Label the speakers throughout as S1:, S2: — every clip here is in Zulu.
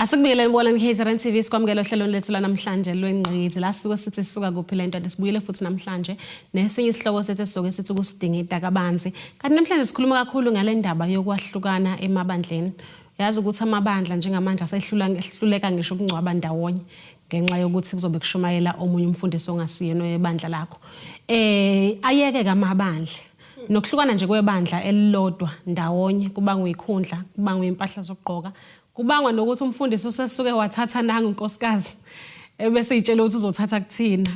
S1: Asikubiyele kubona iKZN TV sikwamukela ohlelweni lethu lanamhlanje lwengqizi la sike sithi sisuka kuphi lento ade sibuyile futhi namhlanje nesinye isihloko sethu esizoke sithi kusidinga idakabanzi kanti namhlanje sikhuluma kakhulu ngale ndaba yokwahlukana emabandleni yazi ukuthi amabandla njengamanje asehluleka ngisho ukungcwaba ndawonye ngenxa yokuthi kuzobe kushumayela omunye umfundisi ongasiyena oyebandla lakho eh ayeke kamabandla nokuhlukana nje kwebandla elilodwa ndawonye kubangwa ikhundla kubangwa impahla zokugqoka kubangwa nokuthi umfundisi usesuke wathatha nangu inkosikazi ebese itshela ukuthi uzothatha kuthina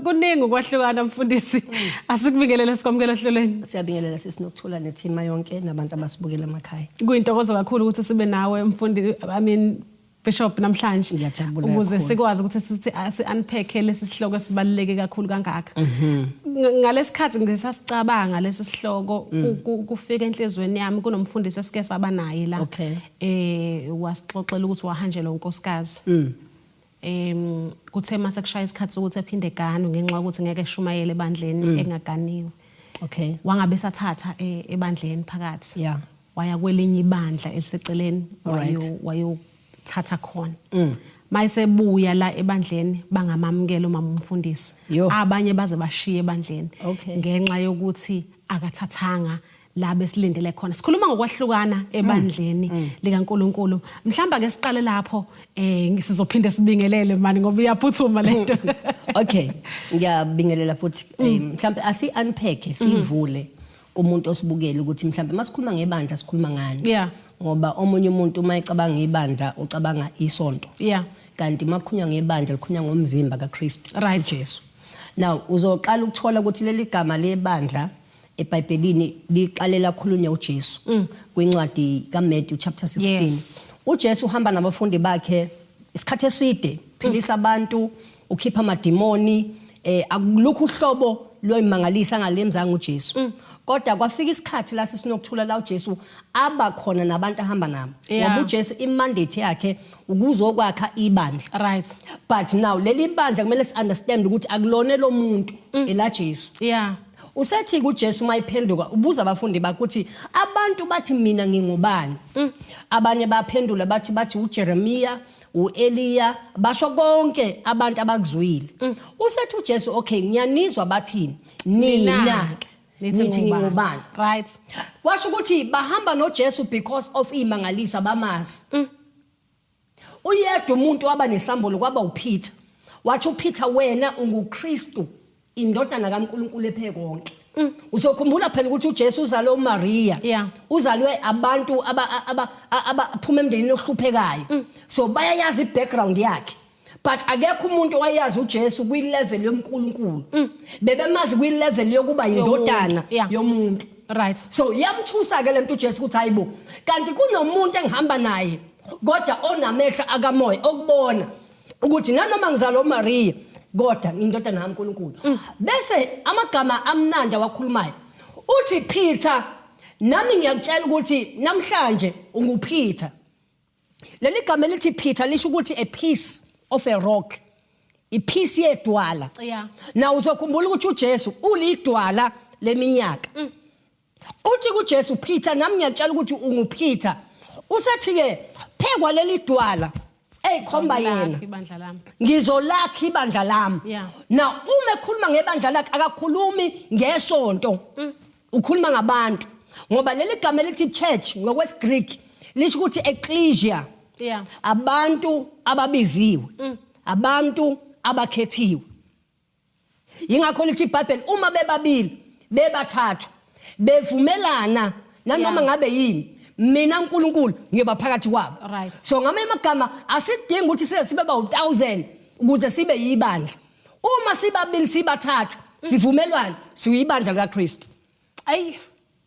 S1: kuningi ukwahlukana mfundisi asikubingelele sikwamukela ohlelweni siyabingelela sisi nokuthola
S2: nethima yonke nabantu abasibukela emakhaya kuyintokozo kakhulu ukuthi
S1: sibe nawe mfundi i mean Bishop namhlanje Ngiyajabula ukuze kakhulu.
S2: sikwazi ukuthi
S1: sithi si-unpack lesi sihloko esibaluleke kakhulu kangaka Mhm. Ng- ngalesikhathi ngisasicabanga lesi sihloko Mm. ku- ku- kufika enhlizweni yami kunomfundisi esike saba naye la Okay. eh wasixoxela ukuthi wahanjelwa unkosikazi Mm. em kuthe mase kushaya isikhathi sokuthi aphinde eganwe ngenxa yokuthi ngeke eshumayele Mm. ebandleni engaganiwe Okay. wangabe sathatha eh, ebandleni phakathi Yeah. waya kwelinye ibandla eliseceleni Alright. wayo- wayothatha khona Mm. mayesebuya la ebandleni bangamamukela umama umfundisi Yo. abanye baze bashiye ebandleni Okay. ngenxa yokuthi akathathanga la besilindele khona sikhuluma ngokwahlukana Mm. ebandleni likaNkuluNkulu mhlamba ke siqale lapho eh sizophinde sibingelele mani ngoba iyaphuthuma lento okay ngiyabingelela
S2: futhi Mm. eh, mhlambe asi unpack sivule kumuntu osibukeli ukuthi mhlawumbe masikhuluma ngebandla sikhuluma ngani yeah ngoba omunye umuntu uma ecabanga ibandla ucabanga isonto yeah kanti makhunywa ngebandla likhunywa ngomzimba kaKristu right Jesu now uzoqala ukuthola ukuthi leli gama lebandla eBhayibhelini liqalela khulunya uJesu mm. kwincwadi kaMatthew chapter 16 yes. uJesu uhamba nabafundi bakhe isikhathi eside philisa abantu ukhipha amadimoni eh akulukho uhlobo loyimangalisa ngalemzanga uJesu mm. kodwa kwafika isikhathi la sisinokuthula la uJesu aba khona nabantu ahamba nabo ngoba uJesu imandate yakhe ukuzokwakha ibandla right but now leli bandla kumele si understand ukuthi akulone lomuntu mm. ela Jesu yeah Usethi kuJesu uma iphenduka ubuza abafundi bakuthi abantu bathi mina ngingubani. Mm. Abanye baphendula bathi bathi uJeremiya, uEliya, basho konke abantu abakuzwile. Mm. Usethi uJesu okay ngiyanizwa bathini? Nina. Nithi ngingubani? Right. Washo ukuthi bahamba noJesu because of imangaliso abamazi. Mm. uyedwa umuntu waba nesambulo kwaba uPeter wathi uPeter wena unguKristu indodana kaNkuluNkulu ephe konke mm. uzokhumbula phela ukuthi uJesu uzalwe uMaria yeah. uzalwe abantu abaphuma emndenini ohluphekayo mm. so bayayazi ibackground yakhe but akekho umuntu owayazi uJesu kwi level yoMkulunkulu mm. bebemazi kwi level yokuba indodana yomuntu right so yamthusa ke lento uJesu ukuthi hayibo kanti kunomuntu engihamba naye kodwa onamehlo akamoya okubona ukuthi nanoma ngizalo Maria kodwa ngindodana kaNkulunkulu mm. bese amagama amnandi awakhulumayo uthi Peter nami ngiyakutshela ukuthi namhlanje unguPeter leli gama elithi Peter lisho ukuthi a piece of a rock iphisi yedwala yeah. na uzokhumbula ukuthi uJesu ulidwala leminyaka mm. Uthi kuJesu Peter nami ngiyakutshela ukuthi unguPeter. Usethi ke phekwa leli dwala eyikhomba yena. Ibandla lami. Ngizolakha ibandla lami. Yeah. Now uma ekhuluma ngebandla lakhe akakhulumi ngesonto. Mm. Ukhuluma ngabantu. Ngoba leli gama elithi church ngokwesiGreek lisho ukuthi ecclesia. Yeah. Abantu ababiziwe. Mm. Abantu abakhethiwe. yingakho lithi ibhayibheli uma bebabili bebathathu bevumelana nanoma ngabe yini mina uNkulunkulu ngiyoba phakathi kwabo Right. so ngamanye amagama asidingi ukuthi size sibe bawu-1000 ukuze sibe yibandla uma sibabili sibathathu sivumelwane siyibandla likakristu ayi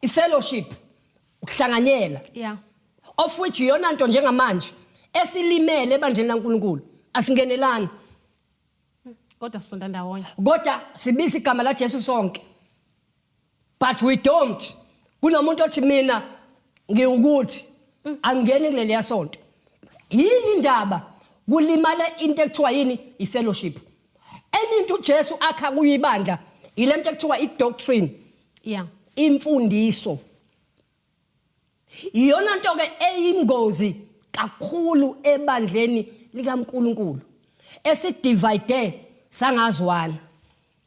S2: ifellowship ukuhlanganyela yeah of which iyona nto njengamanje esilimele ebandleni laNkulunkulu asingenelani
S1: kodwa sonda ndawonye kodwa sibiza
S2: igama la Jesu sonke but we don't kunomuntu othi mina ngiwukuthi mm. angeni kuleli yasonto yini indaba kulimala into ekuthiwa yini ifellowship enye into uJesu akha kuyibandla yile nto ekuthiwa i-doctrine yeah imfundiso iyona nto ke eyingozi kakhulu ebandleni likaNkuluNkulu esidivide sangazwana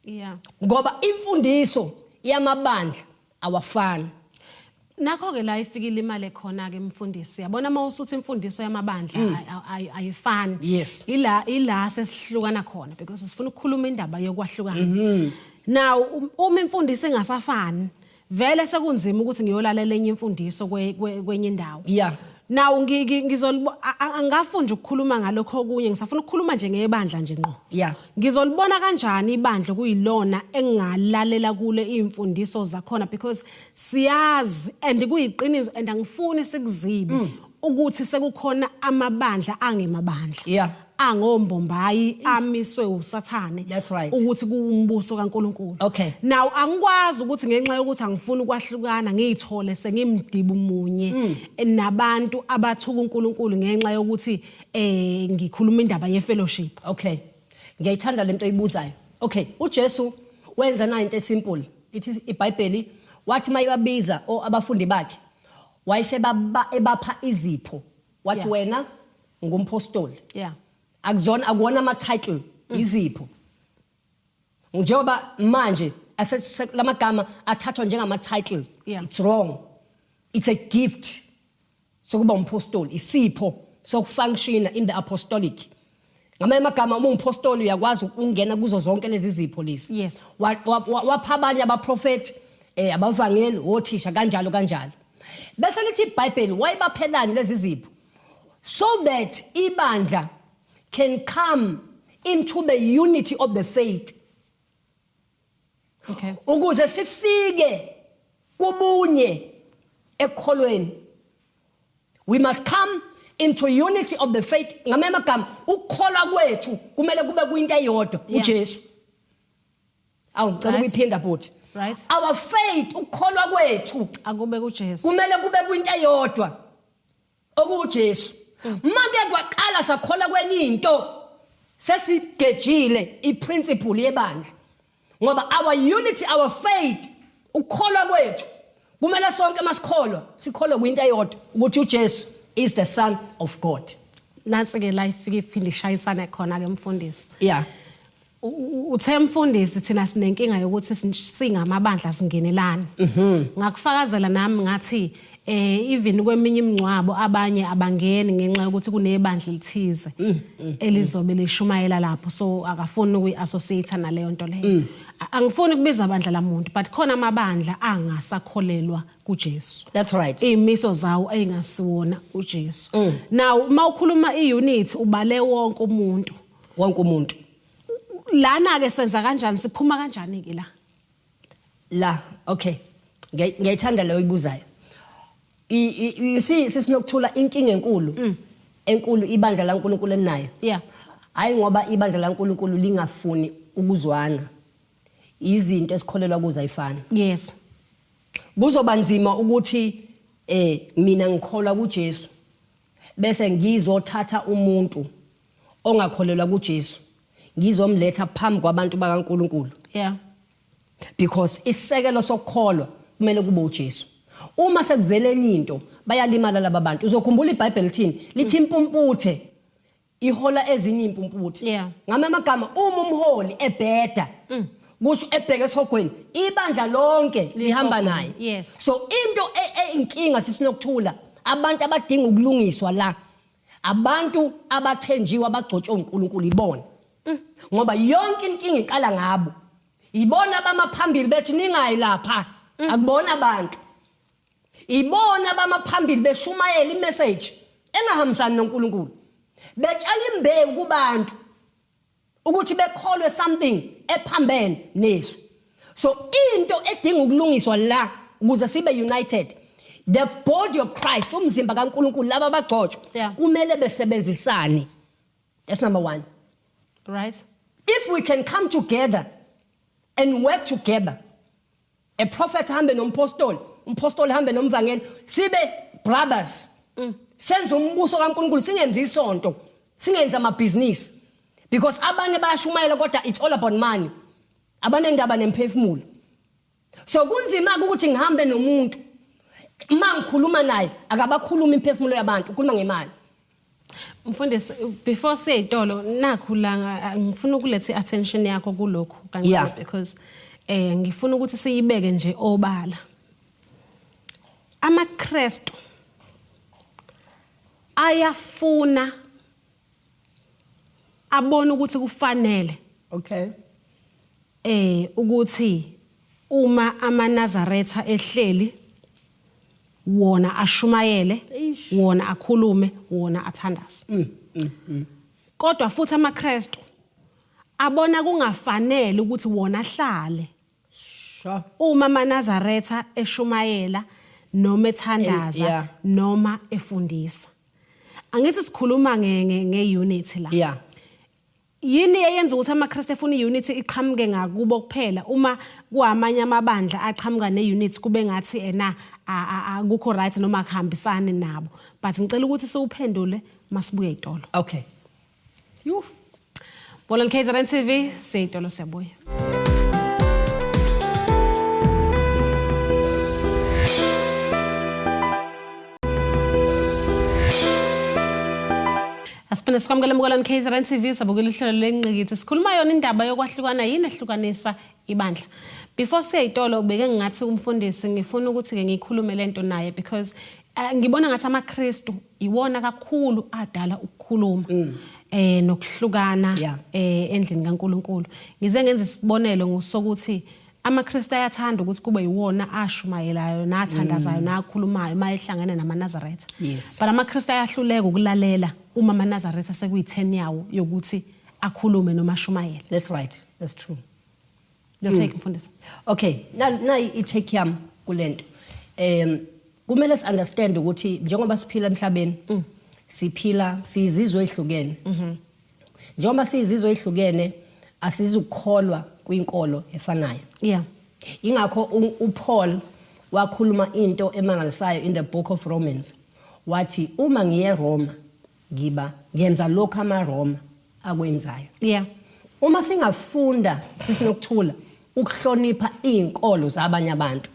S2: yeah ngoba imfundiso yamabandla awafani nakho
S1: ke la ifikile imali ekhona ke mfundisi yabona uma usuthi imfundiso yamabandla mm. ayifani yes ila ila sesihlukana khona because sifuna ukukhuluma indaba yokwahlukana mm-hmm. now um, uma imfundiso ingasafani vele sekunzima ukuthi ngiyolalela enye imfundiso kwenye indawo yeah nawo ngizolibo angafuni nje ukukhuluma ngalokho okunye ngisafuna ukukhuluma nje ngebandla nje ngqo yeah ngizolibona kanjani ibandla kuyilona engingalalela kulo iy'mfundiso zakhona because siyazi and kuyiqiniso and angifuni sikuzibe mm. ukuthi sekukhona amabandla angemabandla yeah. angombombayi mm. amiswe usathane right. ukuthi kuwumbuso kaNkuluNkulu okay. now angikwazi ukuthi ngenxa yokuthi angifuni ukwahlukana ngiyithole sengimdibu munye mm. nabantu abathuka uNkuluNkulu ngenxa yokuthi eh ngikhuluma indaba ye fellowship okay ngiyayithanda
S2: lento oyibuzayo okay uJesu wenza na into esimple ithi iBhayibheli wathi mayibabiza o abafundi bakhe wayesebaba ebapha izipho wathi Yeah. wena ngumpostoli yeah akuzona akuwona ama title izipho njengoba manje lamagama athathwa njengama title yeah. it's wrong it's a gift sokuba umpostoli isipho sokufunctiona in the apostolic ngamanye amagama uma unguphostoli uyakwazi ukungena kuzo zonke lezi zipho lezi yes. wapha abanye abaprofethi um eh, abavangeli wothisha kanjalo kanjalo bese lithi ibhayibheli wayibaphelani lezi zipho so that ibandla can come into the unity of the faith okay ukuze sifike kubunye ekholweni we must come into unity of the faith ngamanye amagama ukukholwa kwethu kumele kube kuyinto eyodwa uJesu awu ngicela ukuyiphinda bhuti right our faith ukukholwa kwethu akube kuJesu
S1: kumele kube kuyinto
S2: eyodwa okuuJesu manje kwaqala sakhola kwenye into sesigejile iprinciple yebandla ngoba our unity our faith ukukholwa kwethu kumele sonke masikholwa sikholwe kwinto eyodwa ukuthi uJesu is the son of God nansi ke la
S1: ifike iphinde ishayisane khona ke mfundisi yeah uthe mfundisi thina sinenkinga yokuthi singamabandla singenelani mhm. ngakufakazela nami ngathi eh even kweminye imingcwabo abanye abangeni ngenxa yokuthi kunebandla elithize mm, mm, mm. elizobe lishumayela lapho so akafuni ukuyiassociate naleyo nto leyo angifuni kubiza abandla lamuntu but khona amabandla angasakholelwa kuJesu that's right imiso
S2: zawo
S1: ayingasiwona uJesu now uma ukhuluma iunit ubale wonke umuntu wonke umuntu lana ke senza kanjani siphuma kanjani ke la
S2: la okay ngiyayithanda leyo ibuzayo you see sisinokuthula inkinga enkulu mm. enkulu ibandla laNkulunkulu enayo yeah hayi ngoba ibandla laNkulunkulu lingafuni ukuzwana izinto esikholelwa kuzo ayifani yes kuzoba nzima ukuthi eh mina ngikholwa kuJesu bese ngizothatha umuntu ongakholelwa kuJesu ngizomletha phambi kwabantu bakaNkuluNkulu yeah because isekelo sokukholwa kumele kube uJesu uma sekuvela enye into bayalimala laba bantu uzokhumbula iBhayibheli lithini lithi impumputhe ihola ezinye impumputhe yeah. ngama amagama uma umholi ebheda mm. kusho ebheke esihogweni ibandla lonke lihamba naye yes. so into e, e, inkinga sisinokuthula abantu abadinga ukulungiswa la abantu abathenjiwe abagcotshwe uNkulunkulu ibona mm. ngoba yonke inkinga iqala ngabo ibona abamaphambili bethi ningayi lapha mm. akubona abantu ibona abamaphambili beshumayela imessage engahambisani noNkulunkulu betshala imbewu kubantu ukuthi bekholwe something ephambene nezwi so into edinga ukulungiswa la ukuze sibe united the body of Christ umzimba kaNkuluNkulu laba abagcotshwa yeah. kumele besebenzisane that's number 1
S1: right if we
S2: can come together and work together a prophet hambe nompostoli umpostoli hambe nomvangeli sibe brothers mm. senze umbuso kaNkuluNkulu singenzi isonto singenza amabhizinisi because abanye bayashumayela kodwa it's all about money abanendaba nemphefumulo so kunzima ukuthi ngihambe nomuntu uma ngikhuluma naye akabakhuluma imphefumulo yabantu ukhuluma ngemali
S1: Mfundisi before siye itolo nakhu la ngifuna ukulethe attention yakho kulokhu kanti yeah. because eh ngifuna ukuthi siyibeke nje obala amaKristu ayafuna abona ukuthi kufanele okay eh ukuthi uma amanazaretha ehleli wona ashumayele wona akhulume wona athandaze mm, mm, mm. kodwa futhi amaKristu abona kungafanele ukuthi wona ahlale uma manazaretha eshumayela noma ethandaza noma efundisa angithi sikhuluma nge nge unity la yeah Yini eyenza ukuthi amaKristu efuna i-unity iqhamuke ngakubo kuphela uma kuamanye amabandla aqhamuka ne-unity kube ngathi ena akukho right noma akuhambisani nabo but ngicela ukuthi siwuphendule masibuye itolo okay
S2: yhu
S1: Bolan KZN TV seyitolo siyabuya Asiphinde sikwamukele embukelweni KZN TV sabukela ihlelo lenqikithi. Sikhuluma yona indaba yokwahlukana yini ehlukanisa ibandla. Before siyayitolo ubeke ngathi kumfundisi ngifuna ukuthi ke ngikhulume lento naye because uh, ngibona ngathi amaKristu iwona kakhulu adala ukukhuluma. Mm. Eh nokuhlukana yeah. eh endlini kaNkuluNkulu. Ngize ngenza isibonelo ngosokuthi AmaKristu ayathanda ukuthi kube yiwona ashumayelayo nathandazayo mm. nakhulumayo uma ehlangene namaNazaretha. Yes. But amaKristu ayahluleka ukulalela uma amaNazaretha sekuyi-10 yawo yokuthi akhulume noma ashumayele. That's right. That's
S2: true. Lo take
S1: mm. mfundisi. Okay, na
S2: na i-take yam kulento. Um kumele si understand ukuthi njengoba siphila emhlabeni mm. siphila sizizwe ezihlukene. Mhm. njengoba siyizizwe ezihlukene asizukukholwa kwinkolo efanayo yeah ingakho uPaul wakhuluma into emangalisayo in the book of Romans wathi uma ngiye Roma ngiba ngenza lokho amaRoma akwenzayo yeah uma singafunda sisinokuthula ukuhlonipha izinkolo zabanye abantu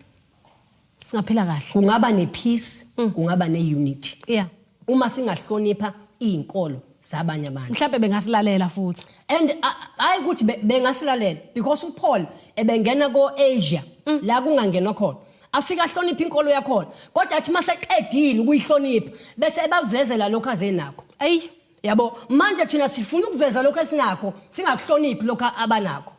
S2: singaphila
S1: kahle kungaba nepeace
S2: mm. kungaba neunity yeah uma singahlonipha izinkolo zabanye abantu mhlawumbe bengasilalela
S1: futhi and hayi
S2: ukuthi bengasilalela because uPaul ebengena koAsia mm. la kungangenwa khona afika ahlonipha inkolo yakhona kodwa athi maseqedile ukuyihlonipha bese ebavezela lokho azenakho ayi yabo manje thina sifuna ukuveza lokho esinakho singakuhloniphi lokho abanakho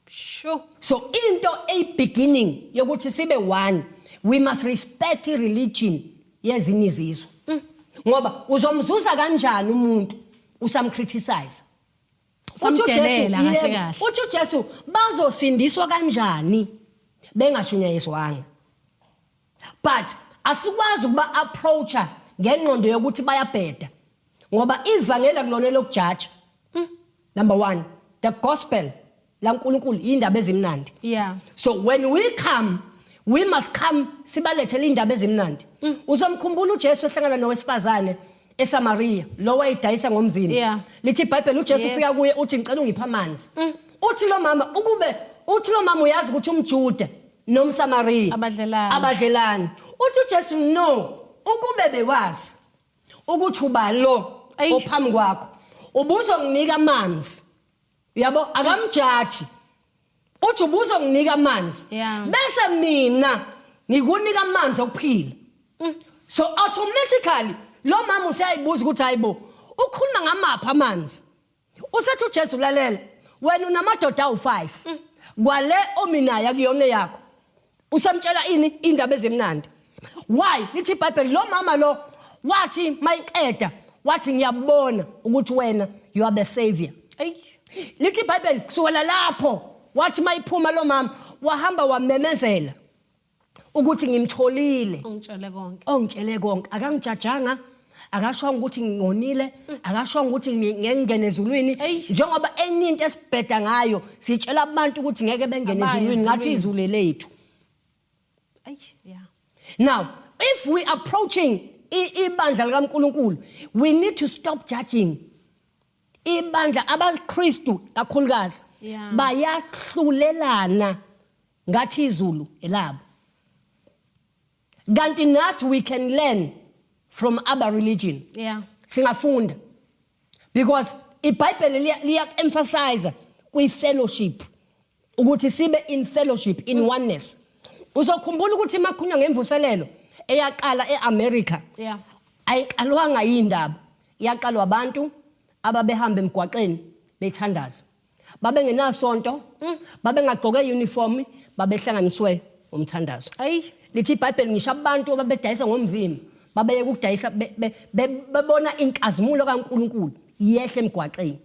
S2: Sure.
S1: So into
S2: a beginning yokuthi sibe one we must respect religion yezinye izizwe. Mm. Ngoba uzomzuza kanjani umuntu usamcriticize? Uthi uJesu yebo. Uthi uJesu bazosindiswa kanjani bengashunyayezwanga? but asikwazi ukuba approacha ngengqondo yokuthi bayabheda ngoba ivangeli akulona lokujaja hmm. number 1 the gospel laNkulunkulu indaba ezimnandi yeah so when we come we must come sibalethele indaba ezimnandi hmm. uzomkhumbula uJesu ehlangana nowesifazane eSamaria lo wayidayisa ngomzini yeah. lithi iBhayibheli uJesu ufika yes. kuye uthi ngicela ungipha amanzi mm. uthi lo mama ukube uthi lo mama uyazi ukuthi umJuda nomsamariya Abadlelani. abadlelani uthi ujesu no ukube bewazi ukuthi uba lo Eish. ophambi kwakho ubuzonginika amanzi uyabo akamjaji uthi ubuzonginika amanzi Yeah. bese mina ngikunika amanzi okuphila so automatically lo mama useyayibuza ukuthi hayibo ukhuluma ngamaphi amanzi usethi ujesu lalela wena unamadoda awu-five mm. kwale ominayo akuyona yakho usamtshela ini indaba ezimnandi why lithi ibhayibheli lo mama lo wathi mayiqeda wathi ngiyabona ukuthi wena you are the savior lithi ibhayibheli kusukela lapho wathi mayiphuma lo mama wahamba wamemezela ukuthi ngimtholile ongitshele konke ongitshele
S1: konke akangijajanga
S2: akashongo ukuthi ngingonile akashongo ukuthi ngengene ezulwini njengoba enye into esibheda ngayo sitshela abantu ukuthi ngeke bengene ezulwini ngathi izulu lethu now if we approaching ibandla likaNkuluNkulu we need to stop judging ibandla abaKristu kakhulukazi bayahlulelana yeah. ngathi izulu elabo kanti nathi we can learn from other religion yeah singafunda because ibhayibheli liya emphasize kwi fellowship ukuthi sibe in fellowship in mm. oneness uzokhumbula ukuthi makhunywa ngemvuselelo eyaqala eAmerica yeah ayiqalwanga yindaba yaqalwa abantu ababehambe emgwaqeni bethandaza babengenasonto mm. babengagqoke uniform babehlanganiswe umthandazo ayi lithi iBhayibheli ngisho abantu ababedayisa ngomzimba babeye ukudayisa bebona inkazimulo kaNkuluNkulu yehle emgwaqeni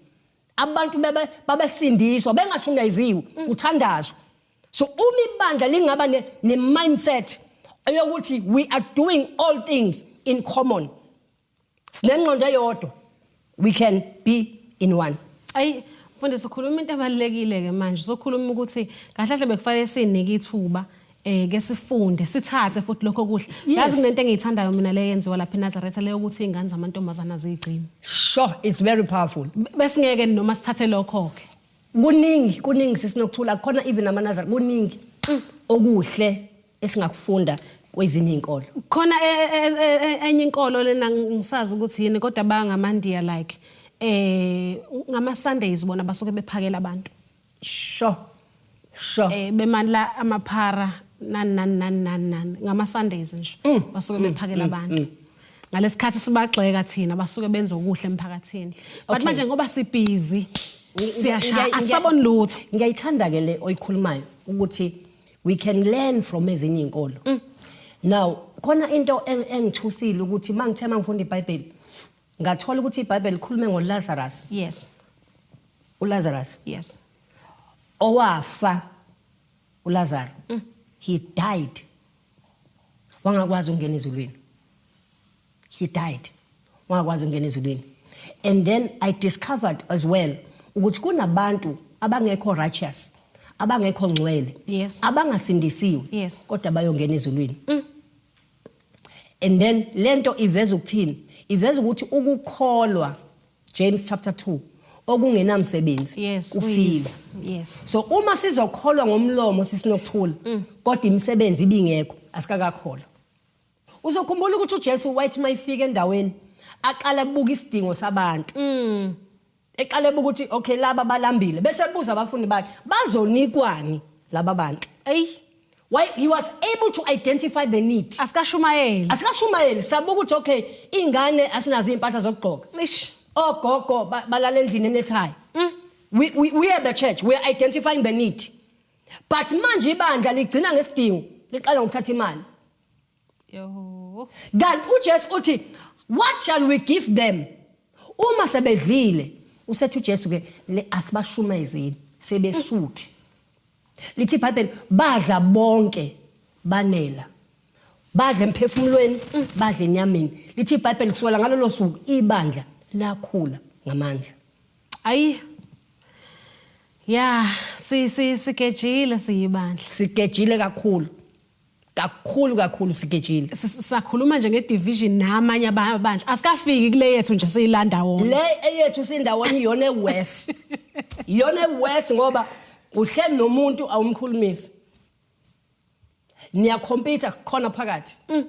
S2: abantu bebe babesindiswa bengashunayiziwe mm. kuthandazwa so uma ibandla lingaba ne, ne mindset eyokuthi we are doing all things in common sinengqondo eyodwa we can be in one ayi mfundisi
S1: ukhuluma into ebalulekile ke manje sokhuluma ukuthi kahle kahle bekufanele sinike ithuba eh ke sifunde sithathe futhi lokho kuhle yazi kunento engiyithandayo mina le yenziwa lapha eNazaretha leyo ukuthi ingane zamantombazana zigcina sure it's very
S2: powerful besingeke noma
S1: sithathe lokho ke kuningi kuningi
S2: sisinokuthula khona even amanazar kuningi mm. okuhle esingakufunda kwezinye izinkolo khona e,
S1: e, e, enye inkolo lena ngisazi ukuthi yini kodwa bangamandiya like eh ngama Sundays bona basuke bephakela abantu sho
S2: sho
S1: eh bemandla amaphara nan nan nan nan nan ngama Sundays nje mm. basuke mm. bephakela mm. abantu ngalesikhathi sibagxeka thina basuke benza okuhle emphakathini but manje ngoba sibhizi siyashaya asaboni lutho ngiyayithanda ke le
S2: oyikhulumayo ukuthi we can learn from ezinye inkolo mm. now khona into engithusile ukuthi mangithe mangifunda iBhayibheli ngathola ukuthi iBhayibheli likhulume ngoLazarus yes uLazarus yes owafa uLazarus mm. he died wangakwazi ukungena ezulwini he died wangakwazi ukungena ezulwini and then i discovered as well ukuthi kunabantu abangekho righteous abangekho ngcwele yes. abangasindisiwe yes. kodwa bayongena ezulwini mm. and then lento iveza ukuthini iveza ukuthi ukukholwa James chapter 2 okungenamsebenzi yes, kufile yes. so uma sizokholwa ngomlomo sisinokuthula mm. kodwa imisebenzi ibingekho asikakakholwa Uzokhumbula ukuthi uJesu wayethi mayifika endaweni aqala buka isidingo sabantu. Mm. Eqale buka ukuthi okay laba balambile bese buza abafundi bakhe bazonikwani laba bantu. Ey. Why he was able to identify the need. Asikashumayeli. Asikashumayeli sabuka ukuthi okay ingane asinazo impahla zokugqoka. Eish. Ogogo balala endlini enethayi. Mm. We we we are the church we are identifying the need. But manje ibandla ligcina ngesidingo liqala ngokuthatha imali. Yoh. kanti ujesu uthi what shall we give them uma sebedlile usethi ujesu ke le asibashumezeni sebesuthi lithi ibhayibheli badla bonke banela badla emphefumulweni badla enyameni lithi ibhayibheli kusukela ngalolo suku ibandla lakhula ngamandla ayi ya
S1: si si sigejile siyibandla sigejile kakhulu
S2: kakhulu kakhulu sigejile sakhuluma nje
S1: ngedivision namanye abandla asikafiki kule yethu nje siyilanda wona le eyethu
S2: sindawonye iyona ewest iyona ewest ngoba uhleli nomuntu awumkhulumisi niyacompete khona phakathi mm.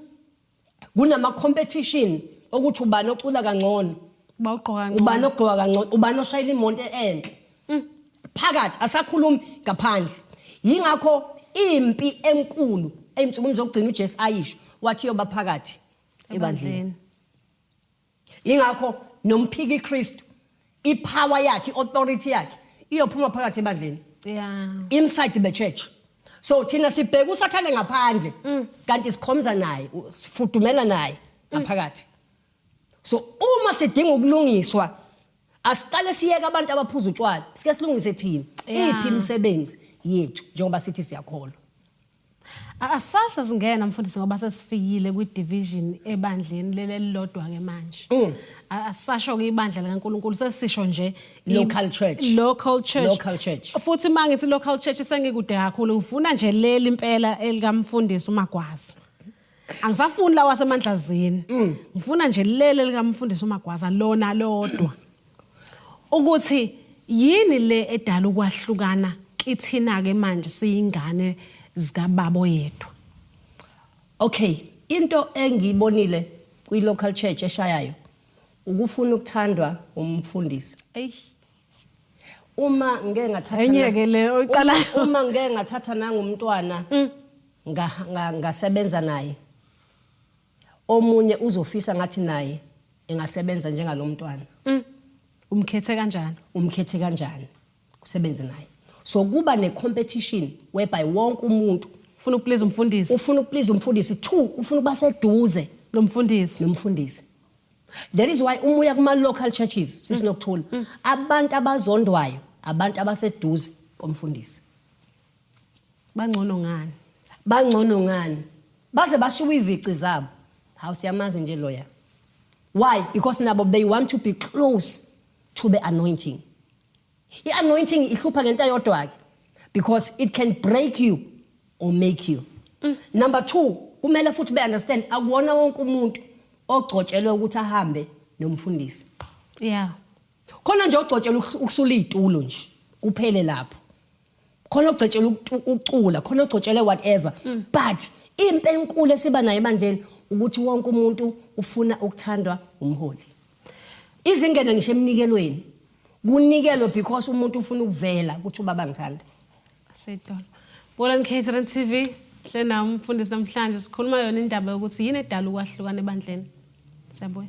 S2: kunama competition okuthi ubani ocula kangcono bawugqoka ngcono ubani ogqoka kangcono ubani oshayela imonto enhle mm. phakathi asakhulumi ngaphandle yingakho impi enkulu emnsukwini zokugcina uJesu ayisho wathi yoba phakathi ebandleni Ingakho nomphiki Kristu ipower yakhe authority yakhe iyophuma phakathi ebandleni. Yeah. Inside the church. So thina sibheka usathane ngaphandle mm. kanti sikhomza naye sifudumela naye mm. ngaphakathi. So uma sidinga ukulungiswa asiqale siyeke abantu abaphuza utshwala sike silungise thina iphi imisebenzi yethu njengoba sithi siyakholwa.
S1: Asasa singena mfundisi ngoba sesifikile kwi division ebandleni leli elilodwa ke manje. Mm. Asasho ke ibandla likaNkuluNkulu sesisho nje local church.
S2: Local church. Local
S1: church. Futhi
S2: mangithi local
S1: church sengikude kakhulu ngifuna nje leli impela elikamfundisi uMagwaza. angisafuni lawa asemandlazini mm. ngifuna nje lele likamfundisi umagwaza lona lodwa ukuthi yini le edala ukwahlukana kithina ke manje siyingane zikababo yedwa
S2: okay into engiyibonile kwi local church eshayayo ukufuna ukuthandwa umfundisi eyi uma ngeke ngathatha enye ke le oyiqala
S1: uma ngeke ngathatha
S2: nangumntwana mm. ngasebenza naye omunye uzofisa ngathi naye engasebenza njengalo mntwana mm.
S1: umkhethe kanjani umkhethe kanjani
S2: kusebenze naye so kuba ne-competition whereby wonke umuntu ufuna ukuplease umfundisi
S1: ufuna ukuplease umfundisi
S2: two ufuna ukuba seduze lo mfundisi nomfundisi that is why umuya kuma-local churches sisinokuthula mm. mm. abantu abazondwayo abantu abaseduze komfundisi
S1: bangcono ngani bangcono ngani
S2: baze bashiwa izici zabo hawu siyamazi nje loya why because nabo they want to be close to the anointing i-anointing ihlupha ngento yodwa-ke because it can break you or make you mm. number two kumele futhi be-understand akuwona wonke umuntu ogcotshelwe ukuthi ahambe nomfundisi yeah
S1: khona nje
S2: ogcotshelwe ukusula iy'tulo nje kuphele lapho khona ogcetshelwe ukucula khona ogcetshelwe whatever mm. but impe enkulu esiba nayo ebandleni ukuthi wonke umuntu ufuna ukuthandwa umholi izingene ngisho emnikelweni kunikelwe because umuntu ufuna ukuvela ukuthi ubaba ngithanda asedolo
S1: bolani catering tv hle nam mfundisi namhlanje sikhuluma yona indaba yokuthi yini edala ukwahlukana ebandleni Siyabuya.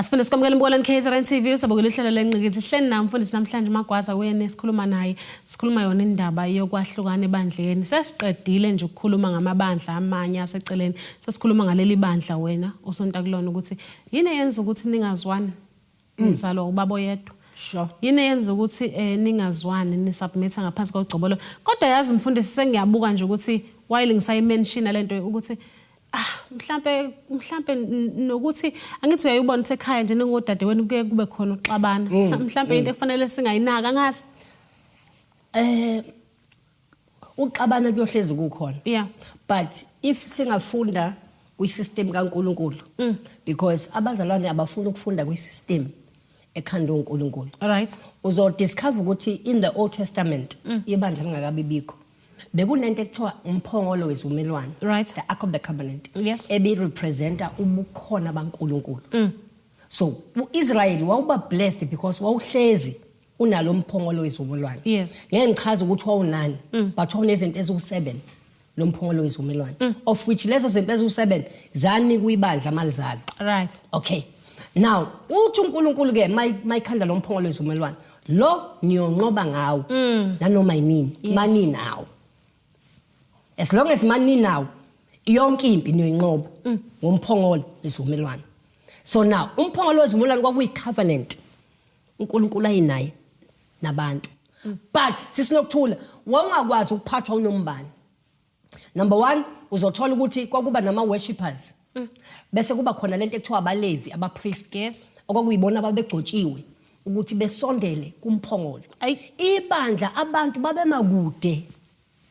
S1: Asiphinde sikwamukele embukelweni KZN TV usabukela uhlelo lenqikithi sihleli nayo mfundisi namhlanje uMagwaza kuyena esikhuluma naye sikhuluma yona indaba yokwahlukana ebandleni sesiqedile nje ukukhuluma ngamabandla amanye aseceleni sesikhuluma ngaleli bandla wena osonta kulona ukuthi yini eyenza ukuthi ningazwani mm. ngizalwa ubaba oyedwa Sure. Yini yenza
S2: ukuthi
S1: eh ningazwani ni submit ngaphansi kogcobolo. Kodwa yazi mfundisi sengiyabuka nje ukuthi while ngisayi mention lento ukuthi ah mhlambe mhlambe nokuthi angithi uyayibona ukuthi ekhaya nje ningodade wenu kuye kube khona uxabana mm, mhlambe mm. into ekufanele singayinaka ngazi eh
S2: uxabana kuyohlezi kukhona yeah but
S1: if
S2: singafunda kwisystem kaNkuluNkulu mm. because abazalwane abafuni ukufunda kwisystem ekhanda uNkuluNkulu right uzo
S1: discover
S2: ukuthi in the old testament mm. ibandla lingakabi bikho bekunento ekuthiwa umphongolo wezumelwano right the ark of the
S1: covenant
S2: yes ebi
S1: representa
S2: ubukhona baNkuluNkulu mm. so uIsrael wawuba blessed because wawuhlezi unalo mphongolo wezivumelwano yes. ngeke ngichaze
S1: ukuthi
S2: wawunani mm. but wawunezinto eziwu-seven lo mphongolo wezivumelwano mm. of which lezo zinto eziwu-seven zanika uyibandla mali zalo right okay now uthi unkulunkulu-ke mayikhanda lo mphongolo wezivumelwano lo niyonqoba ngawo mm. nanoma yinini yes. maninawo as long as maninawo yonke impi niyoyinqoba mm. ngomphongolo wezivumelwano so now umphongolo wezivumelwano kwakuyi-covenant uNkulunkulu ayinaye nabantu but sisinokuthula wawungakwazi ukuphathwa unombani number one uzothola ukuthi kwakuba nama-worshippers bese kuba khona lento ekuthiwa abalevi abapriest yes. okwakuyibona
S1: ababegcotshiwe
S2: ukuthi besondele kumphongolo ibandla abantu babemakude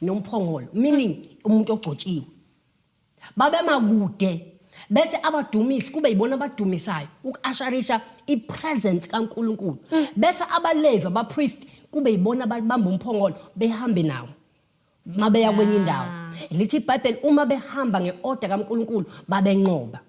S2: nomphongolo meaning umuntu ogcotshiwe babemakude bese abadumisi kube yibona abadumisayo uku-asharisha i-presence kaNkulunkulu mm. bese abalevi abapriest kube yibona ababamba umphongolo behambe nawo mabeya kwenye indawo lithi ibhayibheli uma behamba nge-order kaNkulunkulu babenqoba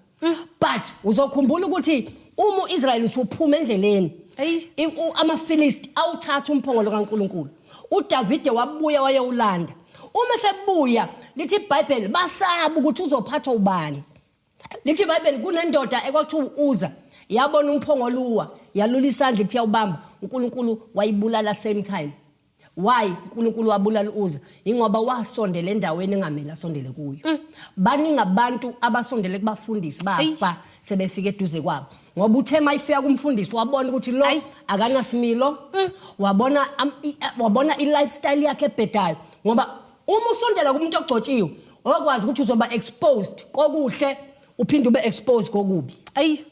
S2: but uzokhumbula ukuthi uma uIsrael usuphuma endleleni Eyi. i- u- amaFilisti awuthatha umphongolo kaNkuluNkulu uDavide wabuya wayewulanda uma sebuya lithi iBhayibheli basaba ukuthi uzophathwa ubani lithi iBhayibheli kunendoda ekwakuthiwa uza yabona umphongolo uwa yalula isandla ithi yawubamba uNkulunkulu wayibulala same time why uNkulunkulu wabulala uza ingoba wasondela endaweni engamele asondele kuyo mm. baningi abantu abasondele kubafundisi bafa sebefika eduze kwabo ngoba uthe mayifika kumfundisi wabona ukuthi lo akanasimilo mm. wabona wabona i-lifestyle yakhe ebhedayo ngoba uma usondela kumuntu ogcotshiwe okwazi ukuthi uzoba exposed kokuhle uphinde ube exposed kokubi ayi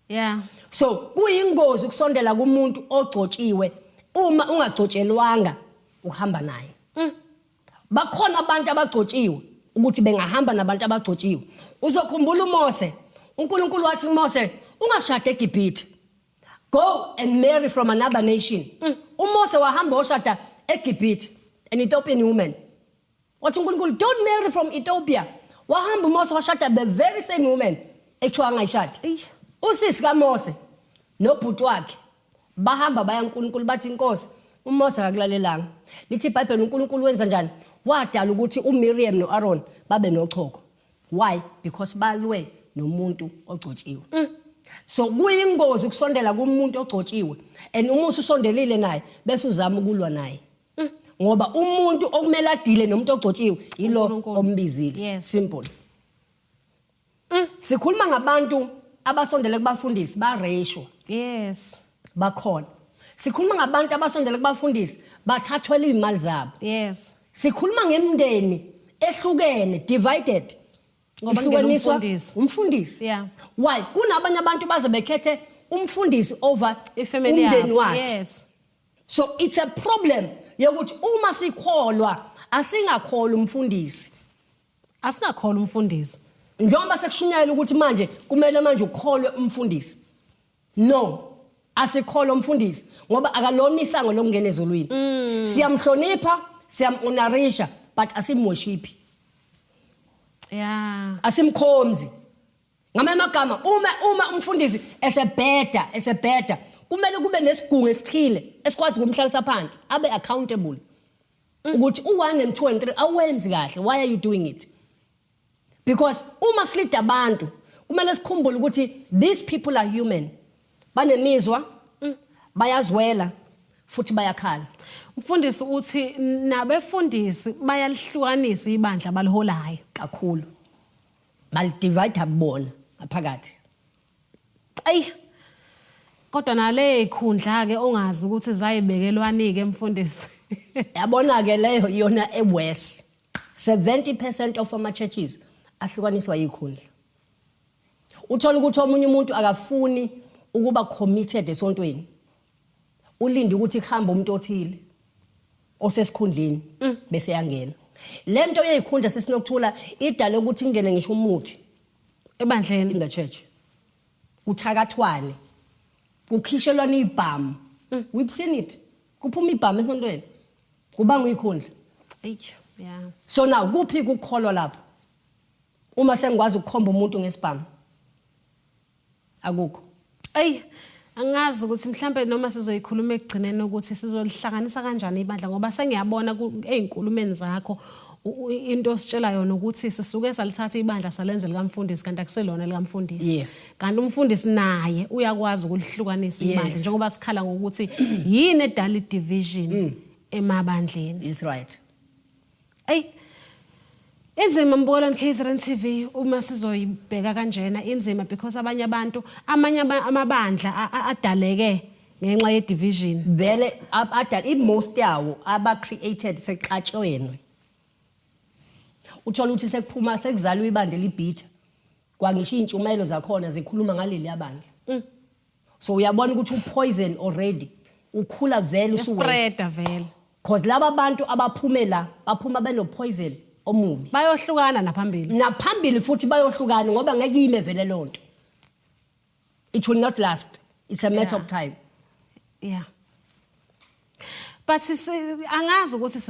S1: yeah so
S2: kuyingozi ukusondela kumuntu ogcotshiwe uma ungagcotshelwanga ukuhamba naye mm. bakhona abantu abagcotshiwe ukuthi bengahamba nabantu abagcotshiwe uzokhumbula uMose uNkulunkulu wathi uMose ungashade eGibhithe go and marry from another nation mm. uMose wahamba oshada eGibhithe an Ethiopian woman wathi unkulunkulu don't marry from ethiopia wahamba umose washada the very same woman ekuthiwa angayishadi usisi kamose nobhuti wakhe bahamba baya unkulunkulu bathi inkosi umose akakulalelanga lithi ibhayibheli unkulunkulu wenza njani wadala ukuthi umiriam no-aron babe nochoko why because balwe nomuntu ogcotshiwe mm. so kuyingozi ukusondela kumuntu ogcotshiwe and uma ususondelile naye bese uzama ukulwa naye ngoba umuntu okumele adile nomuntu ogcotshiwe yilo uNkulunkulu. ombizile Yes. simple sikhuluma ngabantu abasondele kubafundisi bareshwa yes
S1: bakhona
S2: sikhuluma ngabantu abasondele kubafundisi bathathwela izimali zabo yes sikhuluma ngemndeni ehlukene divided Ngoba kungena
S1: ihlukaniswa umfundisi.
S2: umfundisi Yeah.
S1: why kunabanye
S2: abantu baze bekhethe umfundisi over I-family umndeni yakhe.
S1: wakhe Yes. so it's a
S2: problem yokuthi uma sikholwa asingakholwa umfundisi asingakholwa
S1: umfundisi njengoba sekushunyayela
S2: ukuthi manje kumele manje ukholwe umfundisi no asikholwa umfundisi ngoba akalona isango lokungena ezulwini mm. siyamhlonipha siyamunarisha but asimwoshiphi yeah
S1: asimkhonzi
S2: ngamanye amagama uma uma umfundisi esebheda esebheda kumele kube nesigungu esithile esikwazi ukumhlalisa phansi abe accountable ukuthi u1 and 2 and 3 awenzi kahle why are you doing it because uma silida abantu kumele sikhumbule ukuthi these people are human banemizwa bayazwela futhi bayakhala mfundisi
S1: uthi nabefundisi bayalihlukanisa ibandla baliholayo kakhulu
S2: balidivayida kubona ngaphakathi ayi
S1: kodwa nale khundla-ke ongazi ukuthi zayibekelwani-ke mfundisi yabona-ke
S2: leyo iyona ewes 70 percent of ama-churches ahlukaniswa yikhundla uthola ukuthi omunye umuntu akafuni ukuba committed esontweni ulinde ukuthi kuhambe umuntu othile osesikhundleni mm. bese yangena le nto yeyikhundla sesinokuthula idale ukuthi kungene ngisho umuthi ebandleni
S1: in the church
S2: kuthakathwane kukhishelwana ibhamu mm. we've seen it kuphuma ibhamu esontweni kubanga uyikhundla yeah
S1: so now
S2: kuphi kukholwa lapho Uma sengikwazi ukukhomba umuntu ngesibhamu. Akukho. Ey,
S1: angazi ukuthi mhlambe noma sizoyikhuluma ekugcineni ukuthi sizolihlanganisa kanjani ibandla ngoba sengiyabona ezinkulumeni zakho into ositshela yona ukuthi sisuke salithatha ibandla salenze likamfundisi kanti akuselona likamfundisi yes. kanti umfundisi naye uyakwazi ukulihlukanisa yes. imali njengoba sikhala ngokuthi yini edala division mm. emabandleni is right Ey Inzima mbukelwa KZN TV uma sizoyibheka kanjena inzima because abanye abantu amanye amabandla adaleke ngenxa ye division. Vele adala
S2: i most yawo aba created seqatshweni. Uthola ukuthi sekuphuma sekuzalwa ibandla libhitha. Kwangisho intshumayelo zakhona zikhuluma ngaleli yabandla. Mm. so uyabona ukuthi upoison already ukhula vele usuwes Spreader vele.
S1: cause laba bantu
S2: abaphume la baphuma benopoison omubi Bayohlukana naphambili.
S1: naphambili futhi bayohlukana
S2: ngoba ngeke ime vele loo nto it will not last it's a matter Yeah. of time Yeah.
S1: but angazi ukuthi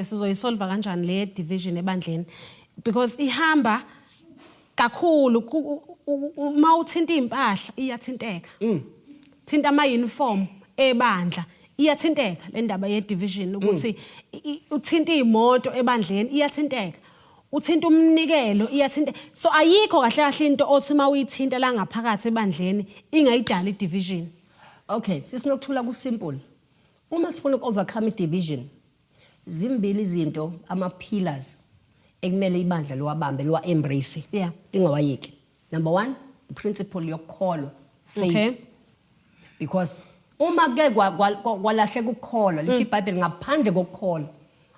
S1: sizoyisolva kanjani le division ebandleni because ihamba kakhulu uma uthinta iy'mpahla iyathinteka mm. thinta ama-uniform ebandla iyathinteka le ndaba ye-division mm. ukuthi uthinta iy'moto ebandleni iyathinteka uthinta umnikelo iyathinta so ayikho kahle kahle into othi uma uyithinta la ngaphakathi ebandleni ingayidala i-division Okay,
S2: sisinokuthula ku simple. Uma sifuna uku overcome division zimbili izinto ama pillars ekumele ibandla liwabambe liwa embrace. Yeah. Lingawayeki. Number 1, the principle yokukholwa. Faith. Okay. Because uma ke kwalahleka ukukholwa lithi mm. iBhayibheli ngaphandle kokukholwa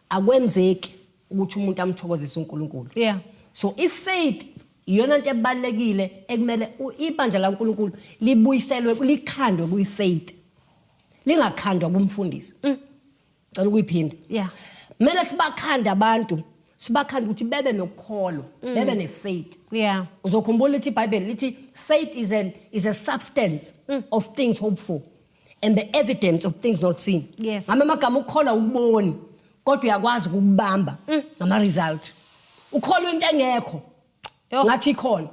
S2: akwenzeki. ukuthi umuntu amthokozise uNkulunkulu yeah so if
S1: faith
S2: iyona nto ebalekile ekumele ibandla laNkulunkulu libuyiselwe likhandwe kuyifaith lingakhandwa kumfundisi mm. cela ukuyiphinda yeah mele
S1: sibakhande
S2: abantu sibakhande ukuthi bebe nokukholo mm. bebe nefaith yeah uzokhumbula
S1: ukuthi iBhayibheli
S2: lithi faith is an is a substance mm. of things hoped for and the evidence of things not seen Yes. ngama amagama ukukholwa ukuboni kodwa uyakwazi ukukubamba mm. ngama result ukholwa into engekho Yho. ngathi ikhona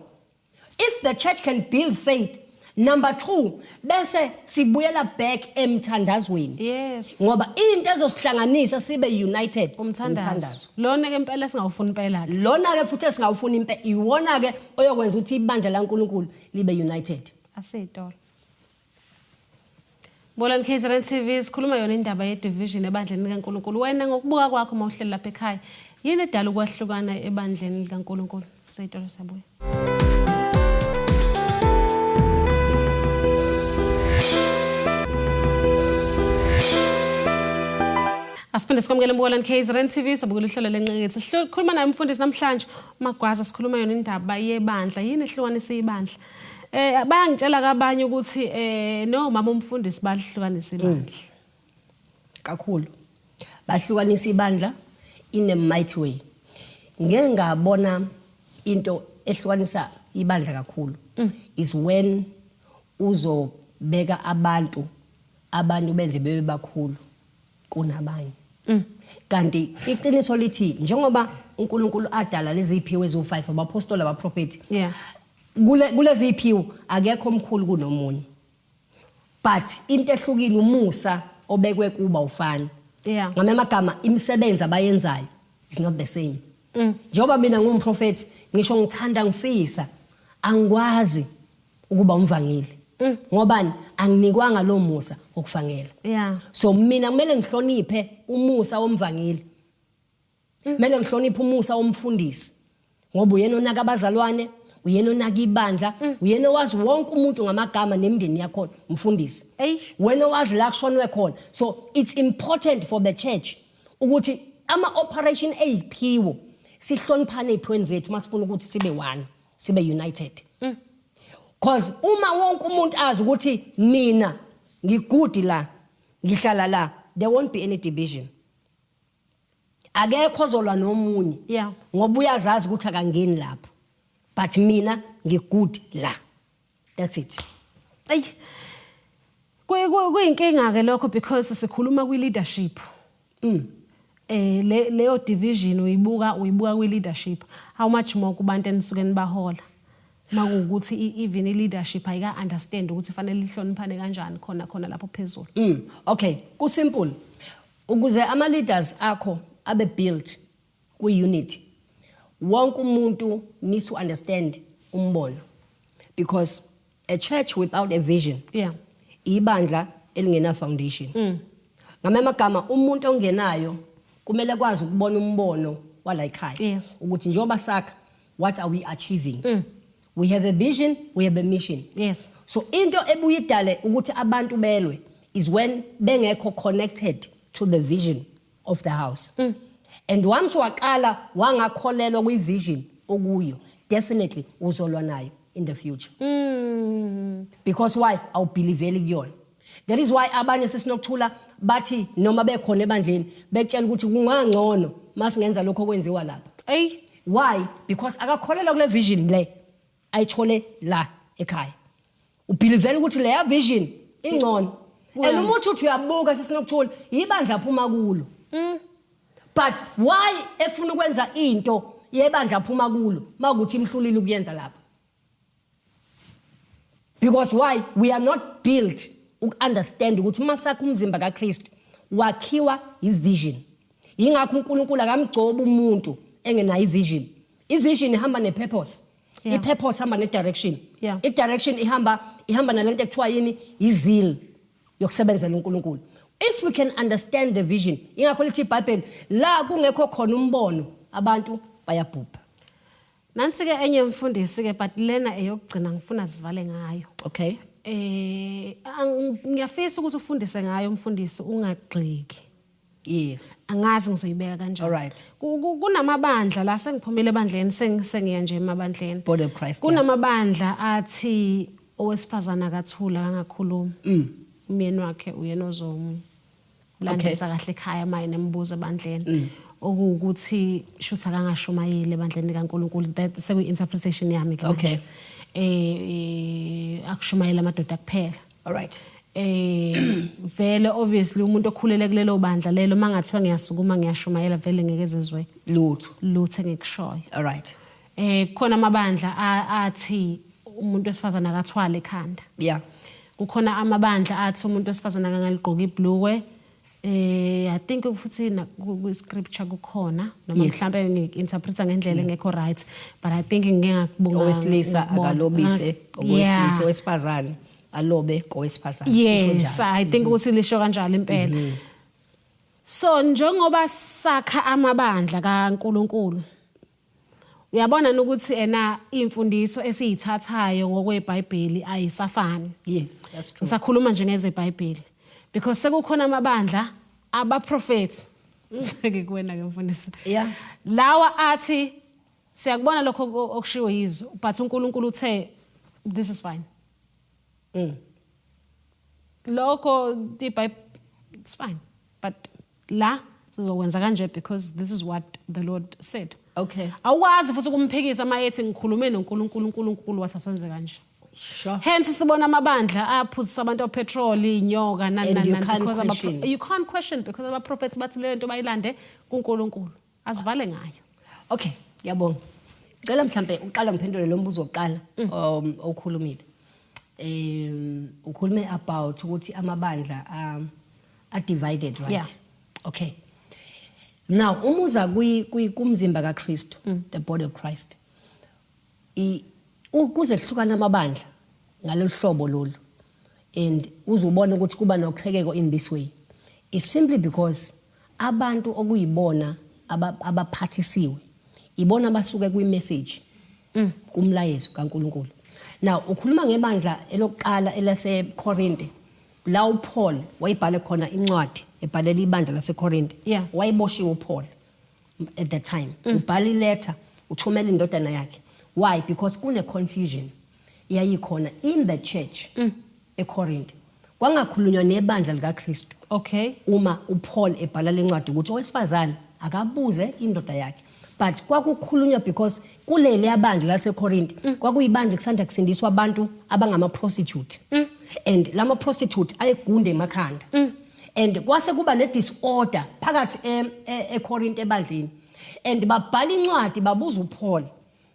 S2: if the church can build faith number 2 bese sibuyela back emthandazweni yes ngoba
S1: into
S2: ezosihlanganisa sibe united umthandazo
S1: lona ke impela singawufuni impela ke lona ke futhi esingawufuni
S2: impe iwona ke oyokwenza ukuthi ibandla laNkuluNkulu libe united asitolo
S1: Bolani KZN TV sikhuluma yona indaba ye division ebandleni likaNkulunkulu. Wena ngokubuka kwakho uma uhleli lapha ekhaya, yini edala ukwahlukana ebandleni likaNkulunkulu? Seyitolo sabuya. Asiphinde sikwamukele embukelweni KZN TV sabukela uhlelo lenqekethe. Sikhuluma naye umfundisi namhlanje uMagwaza sikhuluma yona indaba yebandla. Yini ehlukanisa ibandla Eh bayangitshela kabanye ukuthi eh no mama umfundisi balihlukanisa mm. ibandla.
S2: Kakhulu. Bahlukanisa ibandla in a mighty way. Ngeke ngabona into ehlukanisa ibandla kakhulu mm. is when uzobeka abantu abantu benze bebe bakhulu kunabanye mm. kanti iqiniso lithi njengoba uNkulunkulu adala leziphiwo eziwu5 abaphostoli abaprofeti yeah
S1: kule
S2: kuleziphiwo akekho omkhulu kunomunye but into ehlukile umusa obekwe kuba ufana yeah ngame amagama imisebenzi abayenzayo is not the same mm. njengoba mina ngumprofeti ngisho ngithanda ngifisa angikwazi ukuba umvangeli mm. ngobani anginikwanga lo musa wokuvangela yeah. so
S1: mina kumele
S2: ngihloniphe umusa womvangeli mm. kumele mm. ngihloniphe umusa womfundisi ngoba uyena onaka abazalwane uyena onaka ibandla mm. uyena owazi wonke umuntu ngamagama nemndeni yakhona umfundisi wena owazi la kushonwe khona so it's important for the church ukuthi ama-operation eyiphiwo sihloniphane ey'phweni zethu uma sifuna ukuthi sibe one sibe united mm. cause uma wonke umuntu azi ukuthi mina ngigudi la ngihlala la there won't be any division akekho ozolwa nomunye yeah ngoba
S1: uyazazi ukuthi
S2: akangeni lapho but mina ngigudi la that's
S1: it ayi kuyinkinga ke lokho because sikhuluma kwi leadership mm eh le leyo division uyibuka uyibuka kwi leadership how much more kubantu enisuke nibahola makuwukuthi even i-leadership ayika-understand ukuthi fanele lihloniphane kanjani khona khona lapho phezulu mm, okay
S2: kusimple ukuze ama-leaders akho abe built kwi-unity wonke umuntu needs to understand umbono because a church without a vision yeah.
S1: ibandla
S2: elingena-foundation mm. ngamanye amagama umuntu ongenayo kumele kwazi ukubona umbono wala yikhaya yes. ukuthi njengoba
S1: sakha
S2: what are we achieving mm. we have a vision we have a mission yes. so into
S1: ebuye
S2: idale ukuthi abantu belwe is when bengekho connected to the vision of the house mm. and once waqala wangakholelwa kwi vision okuyo definitely uzolwa nayo in the future mm. because why awubhiliveli kuyona that is why abanye sesinokuthula bathi noma bekhona ebandleni betshela ukuthi kungangcono masingenza lokho okwenziwa lapha eyi why because akakholelwa kule vision le ayithole la ekhaya ubhilivela ukuthi leya vision ingcono and uma uthi uthi uyabuka sesinokuthula yibandla aphuma kulo mm. but why efuna ukwenza into yebandla aphuma kulo makuthi imhlulile ukuyenza lapha because why we are not built uku-understand ukuthi uma sakho umzimba kakristu wakhiwa yivision yingakho uNkulunkulu akamgcobi umuntu engenayo ivision ivision ihamba nepurpose yeah. ipurpose ihamba nedirection yeah. idirection ihamba ihamba nalento ekuthiwa yini izil yokusebenzela uNkulunkulu if we can understand the vision ingakho lithi iBhayibheli la kungekho khona umbono abantu bayabhubha nansi
S1: ke enye mfundisi ke but lena eyokugcina ngifuna sivale ngayo okay
S2: eh
S1: ngiyafisa ukuthi ufundise ngayo mfundisi ungagxiki yes
S2: angazi ngizoyibeka
S1: kanjani Alright. Ku- ku-
S2: kunamabandla
S1: la sengiphumile ebandleni seng- sengiya nje emabandleni Body of Christ, yeah.
S2: kunamabandla
S1: athi owesifazana akathula kangakhulumi Mm. umyeni wakhe uyena ozomu landisa kahle ekhaya maye nembuzo Mm. ebandleni okuwukuthi shuthi akangashumayeli ebandleni likaNkulunkulu that sekuyi-interpretation yami ke Okay. manje eh eh, akushumayela amadoda kuphela alright
S2: eh
S1: vele obviously umuntu okhulele kulelo bandla lelo mangathiwa ngiyasukuma ngiyashumayela vele ngeke zezwe lutho lutho engikushoyo alright
S2: eh khona
S1: amabandla athi umuntu wesifazana akathwale ekhanda yeah
S2: kukhona
S1: amabandla athi umuntu wesifazana angaligqoka ibhlukwe Eh I think futhi na ku scripture kukhona noma Yes. mhlambe ngi interpreta ngendlela engekho right but I think ngike ngakubonga owesilisa ngakubona.
S2: akalobise Yeah. owesilisa owesifazane alobe kowesifazane Kusho Yes, njalo. Mm-hmm. I think
S1: ukuthi lisho kanjalo impela. So njengoba sakha amabandla kaNkuluNkulu uyabona ukuthi ena imfundiso esiyithathayo ngokweBhayibheli ayisafani yes that's true
S2: ngisakhuluma nje ngezeBhayibheli
S1: because sekukhona amabandla abaprofeti seke kuwena ke mfundisi yeah lawa
S2: athi
S1: siyakubona lokho okushiwo yizwe but uNkulunkulu uthe this is fine mm lokho iBhayibheli it's fine but la sizokwenza kanje because this is what the lord said okay awukwazi
S2: futhi ukumphikisa
S1: uma ethi ngikhulume nonkulunkulu unkulunkulu wathi asenze kanje Sure. Hence
S2: sibona
S1: amabandla aphuzisa abantu opetrol inyoka nani nani because you can't question because aba prophets bathi le nto bayilande kuNkulunkulu. Asivale ngayo. Okay, ngiyabonga.
S2: Cela mhlambe uqala ngiphendule lo mbuzo oqala mm. um, okhulumile. Um ukhulume about ukuthi amabandla um are divided right? Yeah. Okay. Now umuza kwi kumzimba kaKristu, mm. the body of Christ. ukuze kuhlukana amabandla ngalolu hlobo lolu and uzubona ukuthi kuba noqhekeko in this way is simply because abantu okuyibona abaphathisiwe ibona basuke kwi-message mm. kumlayezo kaNkuluNkulu now ukhuluma ngebandla elokuqala elaseKorinte la uPaul wayibhale khona incwadi ebhalela ibandla laseKorinte yeah. wayiboshiwe uPaul at that time mm. ubhala iletter uthumela indodana yakhe why because kune confusion yayikhona in the church mm. eCorinth kwangakhulunywa nebandla likaKristu okay uma
S1: uPaul
S2: ebhala lencwadi ukuthi owesifazane akabuze indoda yakhe but kwakukhulunywa because kuleli abandla laseCorinth mm. kwakuyibandla kusanda kusindiswa abantu abangama prostitute mm. and lama prostitute ayegunde emakhanda mm. and kwase kuba ne disorder phakathi eKorinte e, ebandleni and babhala incwadi babuza uPaul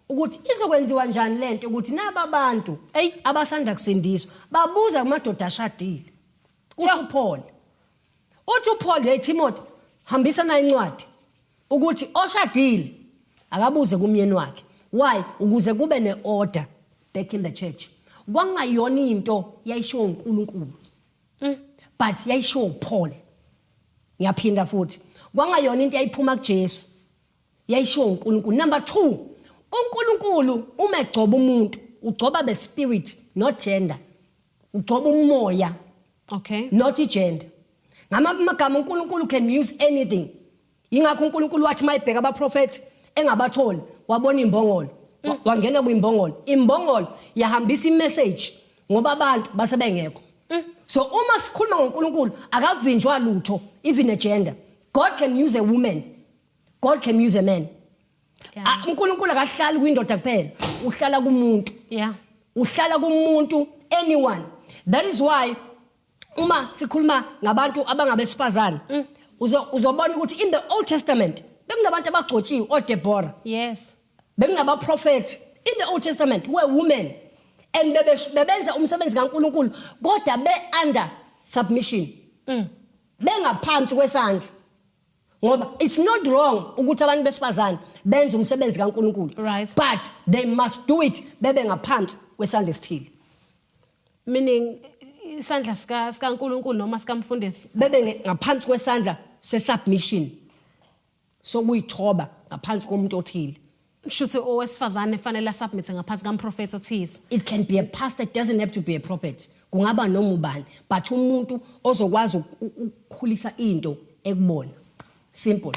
S2: ukuthi izokwenziwa njani lento ukuthi naba bantu abasanda kusindiswa babuza kumadoda ashadile kusho uPaul uthi uPaul hey Timothy hambisa na incwadi ukuthi oshadile akabuze kumyeni wakhe why ukuze kube neorder back in the church kwangayona into yayishiwo uNkulunkulu Mm. But yayishiwo uPaul. Ngiyaphinda futhi. Kwangayona into yayiphuma kuJesu. Yayishiwo uNkulunkulu. Number 2. UNkulunkulu uma egcoba umuntu, ugcoba the spirit not gender. Ugcoba umoya. Okay.
S1: Not igender.
S2: Ngamagama uNkulunkulu can use anything. Yingakho uNkulunkulu wathi mayibheka abaprofethi engabatholi wabona imbongolo mm. wangena kwimbongolo imbongolo yahambisa imessage ngoba abantu basebengekho mm. so uma sikhuluma ngoNkulunkulu akavinjwa lutho even a gender God can use a woman God can use a man ah, uNkulunkulu akahlali kwindoda kuphela uhlala kumuntu yeah uhlala kumuntu anyone that is why uma sikhuluma ngabantu abangabesifazane mm. uzobona ukuthi in the old testament bekunabantu abagcotshiwe odebora yes
S1: bekunabaprofethi
S2: in the old testament were women and bebenza umsebenzi kaNkuluNkulu kodwa be under submission mm. bengaphansi kwesandla ngoba it's not wrong ukuthi abantu besifazane benze umsebenzi kaNkuluNkulu right. but
S1: they must
S2: do it bebe ngaphansi kwesandla esithile
S1: meaning isandla sika sikaNkuluNkulu noma sikamfundisi bebe nge- ngaphansi
S2: kwesandla sesubmission sokuyithoba ngaphansi komuntu othile
S1: shuthi owesifazane fanele asubmit ngaphansi kamprofeti othize it can be a pastor
S2: it doesn't have to be a prophet kungaba noma ubani but umuntu ozokwazi uku- ukukhulisa into ekubona simple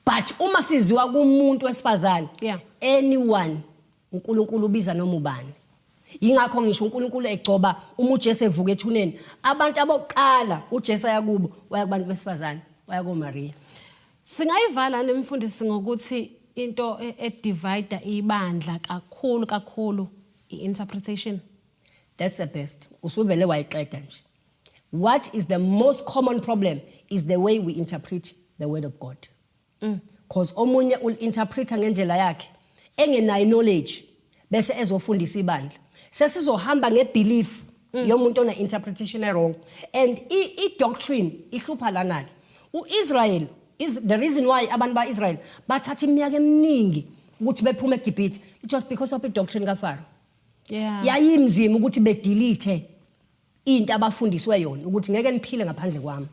S2: but uma siziwa kumuntu wesifazane yeah. anyone uNkulunkulu ubiza noma ubani yingakho ngisho uNkulunkulu egcoba uma uJesu evuka ethuneni abantu abokuqala uJesu ayakubo waya kubantu besifazane waya koMaria singayivala
S1: nemfundisi ngokuthi into e-, edivide ibandla kakhulu kakhulu i-interpretation that's
S2: the best usuvele wayiqeda nje what is the most common problem is the way we interpret the word of god because mm. omunye ul-interpreta ngendlela yakhe engenayo knowledge bese ezofundisa ibandla sesizohamba ngebelief mm. yomuntu ona-interpretation erong and i-doctrine ihlupha lana-ke u-israyeli the reason why abantu ba-israyel bathatha iminyaka eminingi ukuthi bephume egibhithe it was because of i-doctrine kafaro yeah. yayimzima ukuthi bedelete into abafundiswe yona ukuthi ngeke niphile ngaphandle kwami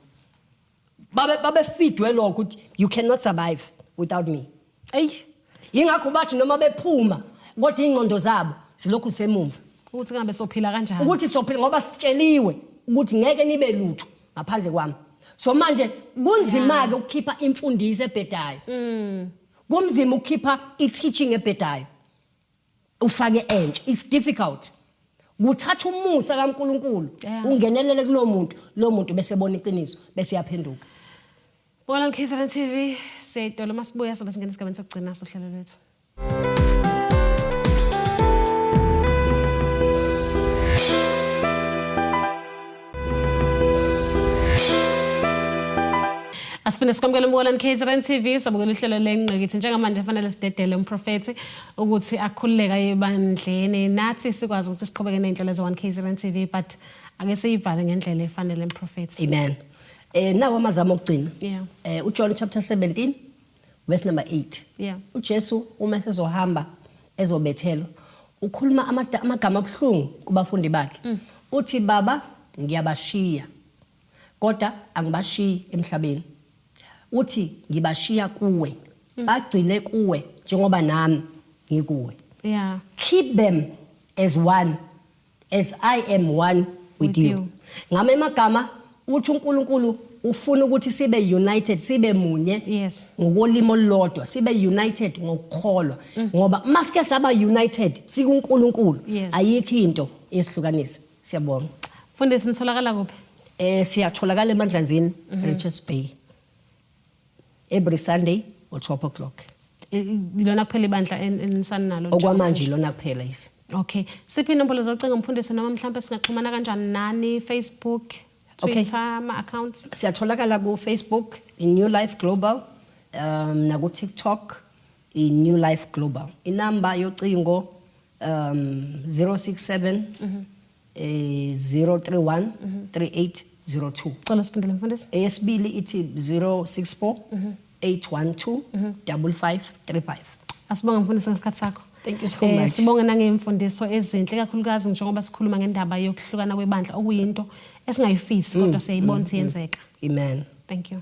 S2: babe babefidwe lokho ukuthi you cannot survive without me eyi yingakho bathi noma bephuma kodwa ingqondo zabo silokhu semumva ukuthi ngabe sophila
S1: kanjani ukuthi sophila ngoba
S2: sitsheliwe ukuthi ngeke nibe lutho ngaphandle kwami so manje kunzima ke ukukhipha imfundiso ebhedayo mm. kumzima ukukhipha i-teaching ebhedayo ufake entsha it's difficult kuthatha umusa kaNkuluNkulu ungenelele kulo muntu lo muntu bese ebona iqiniso bese yaphenduka Bona
S1: KZN TV seyitolo masibuya sobe singena esigabeni sokugcina sohlelo lwethu asifune sikwamukele umbukalani KZN TV sabukela uhlelo lengqikithi njengamanje fanele sidedele umprofethi ukuthi akhululeka ebandleni nathi sikwazi ukuthi siqhubeke nezinhlelo ze 1 KZN TV but ake siyivale ngendlela efanele umprofethi amen
S2: eh nawo amazama okugcina yeah. eh uJohn chapter 17 verse number 8 yeah uJesu uma sezohamba ezobethelwa ukhuluma amada- amagama abuhlungu kubafundi bakhe Mm. uthi baba ngiyabashiya kodwa angibashiyi emhlabeni uthi ngibashiya kuwe Mm. bagcine kuwe njengoba nami ngikuwe yeah keep them as one as i am one with you ngame magama uthi uNkulunkulu ufuna ukuthi sibe united sibe munye yes ngokolimo lodwa sibe united ngokukholwa mm. ngoba masike saba united sikuNkulunkulu ayikho into esihlukanisa siyabonga mfundisi nitholakala
S1: kuphi eh siyatholakala
S2: emandlanzini mm-hmm. Richards Bay every sunday or 12 o'clock ilona
S1: kuphela ibandla enisaninalo okwamanje ilona
S2: kuphela yisi okay siphi
S1: inombolo zocinga mfundisi noma mhlawumbe singaxhumana kanjani nani facebook twitter okay. ama-accounts siyatholakala
S2: kufacebook i-new life global um nakutiktok i-new life global inamba yocingo um 067 mm -hmm. eh 031 mm -hmm. 3802 cela siphendule
S1: mfundisi eyesibili ithi 064 mm
S2: -hmm. 812 mm -hmm. 5535 asibonga
S1: mfundisi ngesikhathi sakho Thank you so eh, much. Sibonge
S2: nangemfundiso
S1: ezinhle kakhulukazi njengoba sikhuluma ngendaba yokuhlukana kwebandla okuyinto esingayifisi kodwa mm, siyayibona mm, mm. yenzeka. Amen. Thank
S2: you.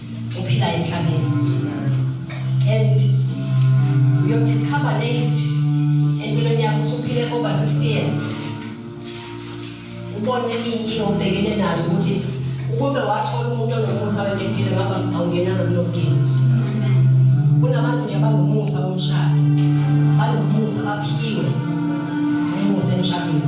S2: uphila emhlabeni and uyodiscover late empilweni yakho usuphile over 60 years ubone iy'nkinga obhekene nazo ukuthi ukube wathola umuntu onomusa wento ethile ngaba awungenanga kulo mdini kunabantu nje abanomusa womshado banomusa baphiwe umusa emshadweni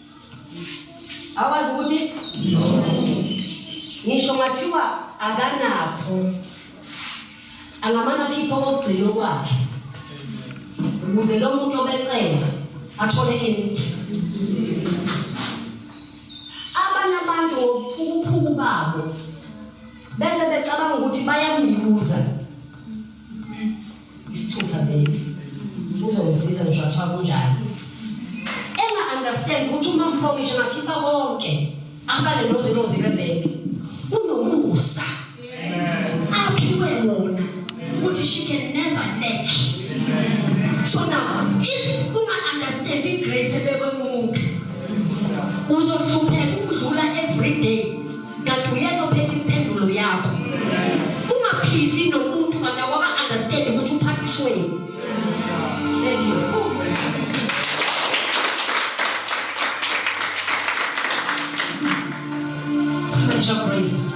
S2: awazi ukuthi ngisho ngathiwa akanakho angamane akhiphe okokugcina okwakhe ukuze lo muntu obecenga athole ini abanye abantu ngobuphukuphuku babo bese becabanga ukuthi bayamyuza Isithutha baby. Uzongisiza ngisho athiwa kunjani. Enga understand ukuthi uma ngiphomishe ngakhipha konke. Asale nozi nozi rebeke. Unomusa. Aphiwe wona. Ukuthi she can never lack. So now if uma understand the grace ebekwe umuntu uzohlupheka ukudlula every day kanti uyena ophethe impendulo yakho ungaphili nomuntu kanti awaka understand ukuthi uphathishweni thank you Somebody shout praise.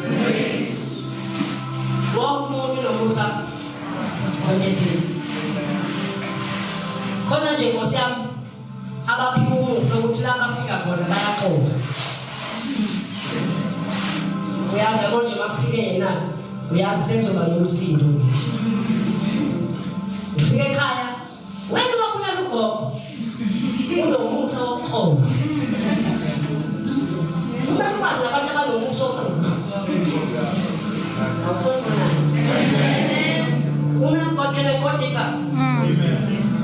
S2: Wonke umuntu nomusa onethile. Khona nje Nkosi yami abaphikumusa ukuthi la bafika khona bayaxova uyazi yabo nje bakufike yena uyazi senzoba nomsindo ufike ekhaya wena wabulala ugogo unomusa wokuxova uma lukwazi labantu abanomusa wokuxova awusonibonani uma lugoqele kodibha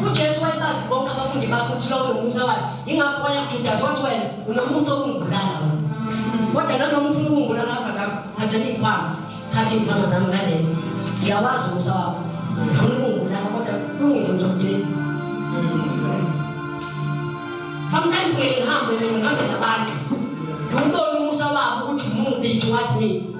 S2: uJesu wayebazi bonke abafundi bakhe ukuthi lowo nomusa wakhe yingakho waya kuJudasi wathi wena unomusa wokungibulala wena kodwa nanoma ufuna ukungibulala hamba ngami thatha iy'khwama thatha iy'khwama zami ulandele ngiyawazi umusa wakho ufuna ukungibulala kodwa ungile ngizokugcina sometimes ngeke ngihambe mina ngihambele abantu ngiwubone umusa wabo ukuthi mubi to what me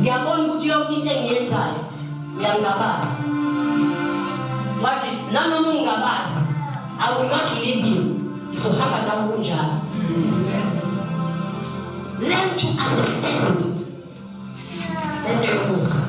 S2: ngiyabona ukuthi yonke into engiyenzayo ngiyangabaza wathi nanoma ungabaza i will not leave you ngizohamba nawe kunjalo learn to understand lento yomusa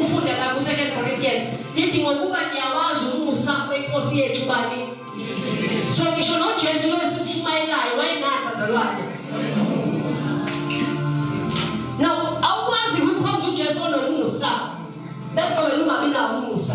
S2: Ufunde lapha ku Second Corinthians lithi ngokuba niyawazi umusa wenkosi yethu bani. So ngisho no Jesu lo esimshumayelayo wayengani bazalwane. No, awukwazi ukukhonza uJesu onomusa. That's why ungabi nawo umusa.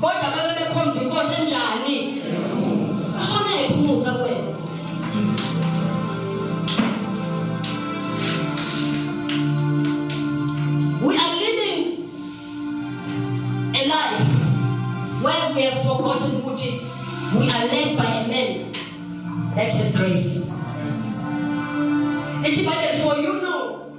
S2: kodwa babe bekhonza inkosi enjani shona ephumuza kwena we are living a life where we have forgotten ukuthi we are led by a man that has grace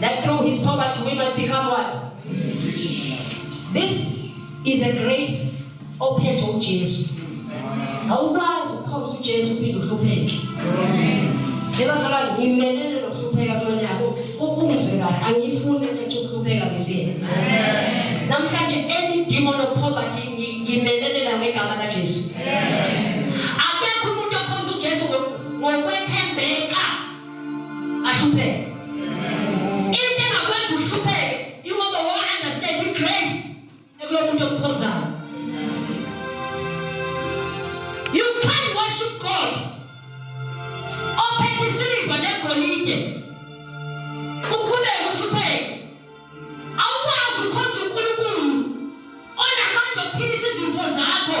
S2: That through his poverty we might become what? This is a grace ophethe uJesu. Awukwazi ukukhomba uJesu uphinde uhlupheke. Yebazalwane ngimelele nokuhlupheka kulonyaka. Ukungizwe kahle angiyifuni ukuthi ukuhlupheka bese. Namhlanje any demon of poverty ngimelele nawe igama laJesu. Amen. ahlupheke into engakwenza uhlupheke ingoba wa understand i grace ekulo muntu omkhonzayo you can worship god ophethe isiliva negolide ukhuleke uhlupheke awukwazi ukhonza unkulunkulu onamandla okuphilisa izimfo zakho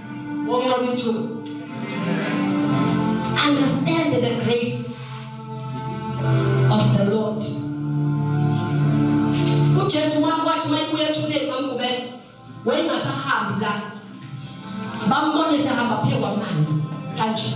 S2: Wonqobithu. Understand the grace of the Lord. UJesu wathi mayibuya ethuneni bamgubela wayengasahambi la. Bambone sehamba phe kwamanzi kanje.